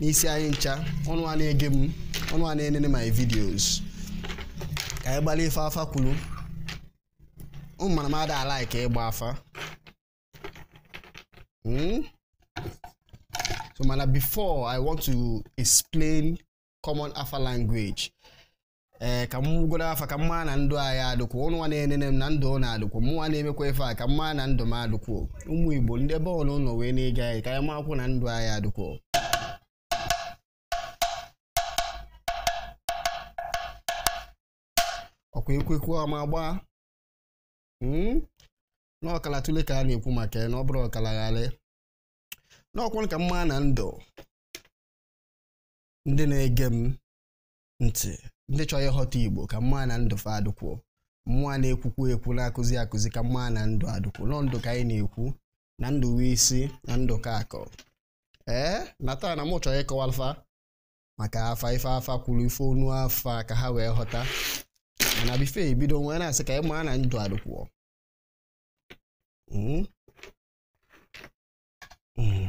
n'isi anyị ncha ụnụ nwa na-ege m ụnụ nwa na-enene my videos ka anyị gbali ife afa kwuru mm mana m ada like ịgba afa hmm? so mana before i want to explain common afa language ee ka m gụgodu afa ka m ma na ndụ anyị adụkwụ ụnụ nwa na-enene m na ndụ ụnụ adụkwụ mụnwa na-emekwa ife a ka m ma na ndụ m adụkwụ ụmụ igbo ndị ebe ụnụ nọ wee na-ege anyị ka anyị makwụ na ndụ anyị adụkwụ ọkwa ekwekwu ọma gbaa hmm? n'ọkala otule ka a na-ekwu maka ya na ọ bụrụ ọkala agali na o kwuru ka m ma na ndụ ndị na-ege m ntị ndị chọrọ ịghọta igbo ka m ma na ndụ fa adụkwuo mụnwa na-ekwukwu ekwu na-akụzi akụzi ka m ma na ndụ adụkwuo n'ọ ndụ ka anyị na-ekwu na ndụ wụ isi na ndụ ka akụ ee na taa na mụ chọrọ ịkọwalụ fa maka afa ife afa kwuru ife ọnụ afa ka ha wee ghọta mana before e bido m wee na-asị ka m ma na ndụ adụkwuo hmm? Hmm.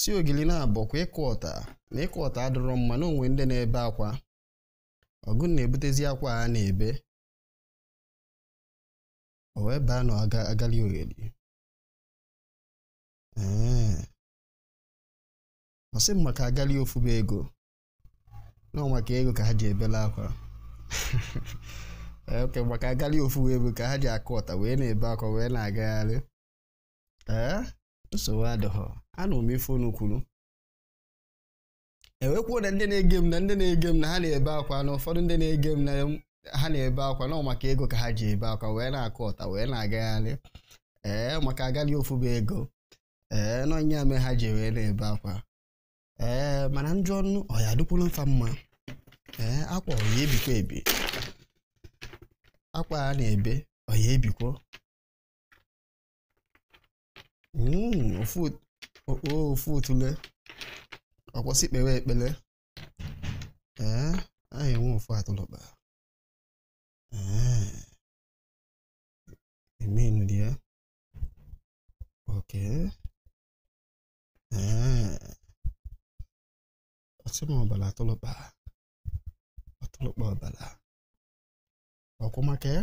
sị ogheli na ọ bụkwa ịkụ ọta na ịkụ ọta adịrọ mma na o nwe ndị na-ebe akwa ọ gụnụ na-ebutezi akwa ha na-ebe o wee baa na agali ogheli ee ọ sị m maka agali ofu bụ ego na ọ maka ego ka ha ji ebela akwa okay maka agali ofu bụ ego ka ha ji akụ ọta wee na-ebe akwa wee na-agagharị ee nsogbu adịghị anụ m ife unu kwuru e wee kwuo na ndị na-ege m na ndị na-ege m na ha na-ebe akwa na ụfọdụ ndị na-ege m na ha na-ebe akwa na maka ego ka ha ji ebe akwa wee na-akụ ọta wee na-agagharị ee maka agali ofu bụ ego ee n'ọ ya me ha ji wee na-ebe akwa ee mana njụ ọnụ ọ ya-adịkwuru fa mma ee akwa ọ ya-ebikwa ebi akwa a na-ebe ọ ya-ebikwo Mm, ofu ot- o- o, ofu otule o kwu sị kpewe ekpele ee anyị enwe ofu atụlụkpa ee emenu dị ya okay ee ọ sị m ọbala atụlụkpa atụlụkpa ọbala o kwu maka ya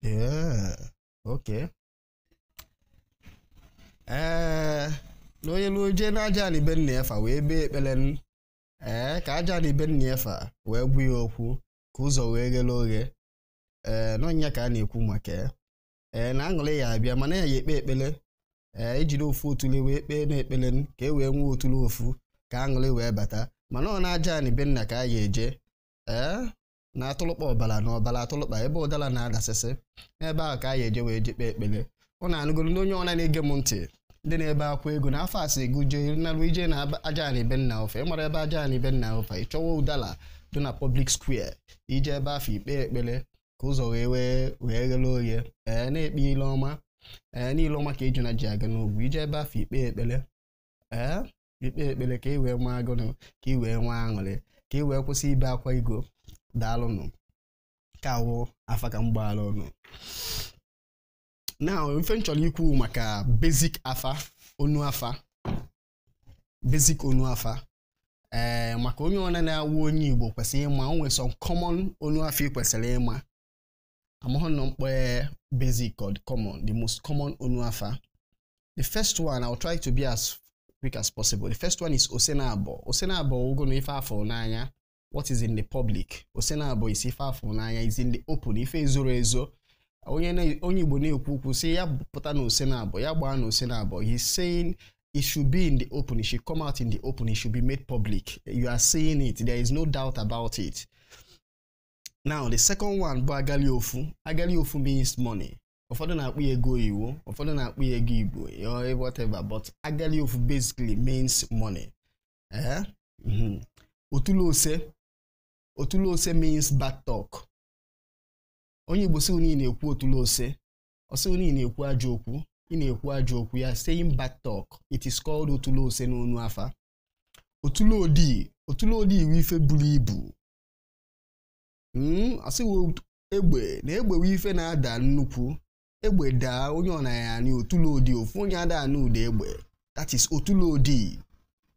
Yeah. Okay. ee eh, na onye luo jee na aja anị be nna ya fa wee kpee ekpele ee eh, ka aja anị be nna ya fa wee gwa ya okwu ka ụzọ wee ghele oghe ee eh, na ọ nya ka a na-ekwu maka ya ee na aṅụrị ya-abịa mana a ya-ekpe ekpele ee e jiri ofu otule wee kpee na ekpele ka e wee nwee otule ofu ka aṅụrị wee bata mana ọ na aja anị be nna ka a ya-eje ee na atụlụkpa ọbara na ọbara atụlụkpa ebe ụdala na-adasịsị n'ebe ahụ ka a ya-eje wee je kpee ekpele ọ na-anụgoro ndị onye ọna na-ege m ntị ndị na-ebe akwa ego na afa sị gụ jee narụ ije na aja anị be nna gụ fa ị mara ebe aja anị be nna gụ fa ị chọwa ụdala dị na public square i jee ebe afụ i kpee ekpele ka ụzọ wee wee wee ghere oghe ee na-ekpe ile ọma ee na ile ọma ka ejuna ji aga n'ogwu i jee ebe afụ i kpee ekpele ee i kpee ekpere ka ị wee nwee agụrụ ka ị wee nwee aṅụrị ka ị wee kwụsị ibe akwa ego daalụnụ ka wụ afa ka m gbaara ụnụ now ife m chọrọ ikwu maka basic afa ọnụ afa basic ọnụ afa ee eh, maka onye ọna na-awụ onye Igbo kwesịrị ịma o nwere some common ọnụ afa ị kwesịrị ịma amaghị nọ m kpọ basic or the common the most common ọnụ afa the first one i will try to be as quick as possible the first one is ose naabọ ose naabọ wụgonụ ife a fụrụ n'anya what is in the public ose naabọ is ife a fụrụ n'anya is in the open ife ezorọ ezo onye onye igbo na-ekwu okwu sị ya pụta na ose naabọ ya gbaa na ose naabọ he's saying it should be in the open. It should come out in the open. It should be made public. You are seeing it. There is no doubt about it. now the second one bụ agali ofu agali ofu means money ụfọdụ na-akpọ ya ego oyiwo ụfọdụ na-akpọ ya ego igbo whatever but agali ofu basically means money ee mhm. otule ose otule ose means bad talk onye igbo sị na ị na-ekwu otule ose ọ sị na ị na-ekwu ajọ okwu ị na-ekwu ajọ okwu you're saying bad talk it is called otule ose n'ọnụ afa otule odii otule odii wụ ife buru ibu hmm, a sị wụ egbe na egbe wụ ife na-ada nnukwu egbe daa onye ọna ya-anụ otule odii ofu onye ada anụ ụda egbe that is otule odii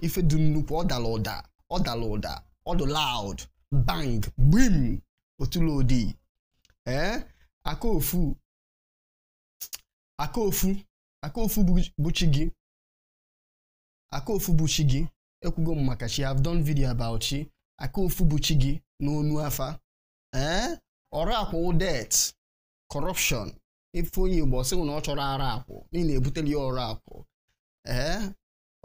ife dị nnukwu ọ dara ụda ọ dara ụda ọ dị loud bang gbim otule odii ee eh, aka ofu aka ofu aka ofu bụ chi gị aka ofu bụ chi gị ekwugo m maka chi have done video about chi aka ofu bụ chi gị n'ọnụ afa ee ọra akwụ debt corruption if onye igbo ọ sị gị na ọ chọrọ ọra akwụ na ị na-ebuteli ya ọra akwụ ee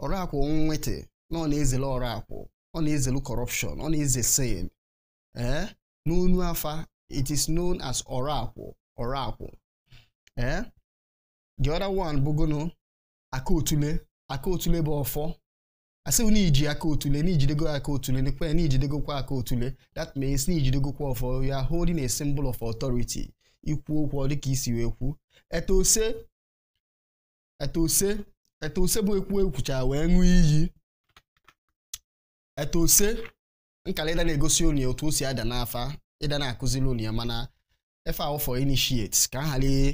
ọra akwụ nwete na ọ na-ezele ọra akwụ ọ na-ezelu corruption ọ na-eze sin ee n'ọnụ afa it is known as ọra akwụ ọra akwụ ee the other one bụgono aka otule aka otule bụ ọfọ asị na i ji aka otule na i jidego aka otule nekwe na i jidegokwa aka otule that means na i jidegokwa ọfọ you are holding a symbol of authority ikwu okwu ọ dịka isi wee kwu ete ose ete ose ete ose bụ ekwu ekwucha wee ṅụọ iyi ete ose nkala ị da na-egosi onye otu o si ada n'afa ị da na-akụziri onye mana ife a wụ for initiate ka a ghara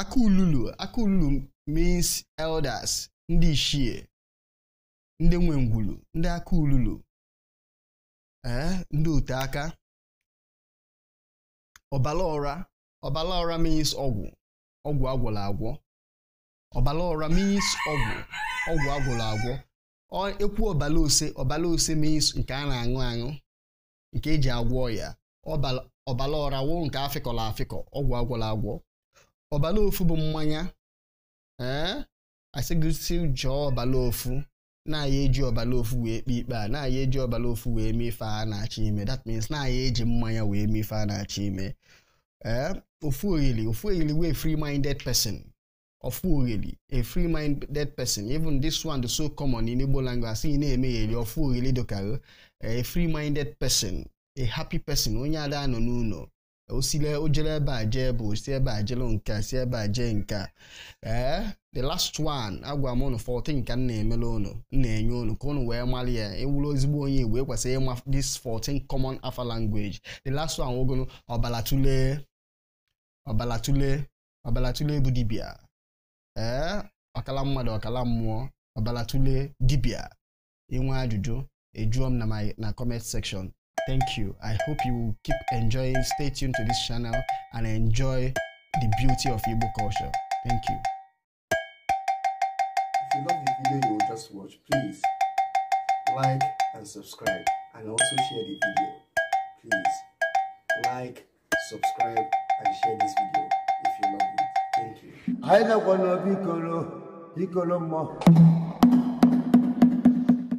Aka ululu Aka ululu means elders ndị ichie ndị nwe ngwulu ndị aka ululu ee eh, ndị ote aka ọbala ọra ọbala ọra means ọgwụ ọgwụ agwọla agwọ ọbala ọra means ọgwụ ọgwụ agwọla agwọ ekwu ọbala ose ọbala ose means nke a na-aṅụ aṅụ nke eji agwọ ọya ọbala ọra wụ nke afịkọla afịkọ ọgwụ agwọla agwọ ọbala ofu bụ mmanya ee asị gị sị jụọ ọbala ofu na a ya-eji ọbala ofu wee kpe ikpe a na a ya-eji ọbala ofu wee mee ife a na-achọ ime that means na a ya-eji mmanya wee mee ife a na-achọ ime ee ofu oyili ofu oyili wụ free minded person Ofu oyili, a free-minded person. Even this one, dị so common in Igbo language, asị na-emeli ofu oyili dịka, a free-minded person, a happy person, onye ada anọ n'ụlọ. osile ojele ebe a jee bụ si ebe a jele nke a si ebe a jee nke a ee eh, the last one agwa m unu 14 ka m na-emele unu m na-enye unu ka unu wee mara ya ị wụrụ ezigbo onye igbo i kwesịrị ịma this 14 common afa language the last one wụgonu ọbala otule ọbala otule ọbala otule bụ dibịa ee ọkala mmadụ ọkala mmụọ ọbala otule dibịa i nwee ajụjụ ị jụọ m na my na comment section thank you i hope you will keep enjoying stay tuned to this channel and enjoy the beauty of igbo culture thank you if you love the video you've just watched please like and subscribe and also share the video please like subscribe and share this video if you love it thank you anyị nọkwa n'obi ikoro ikoro mmụọ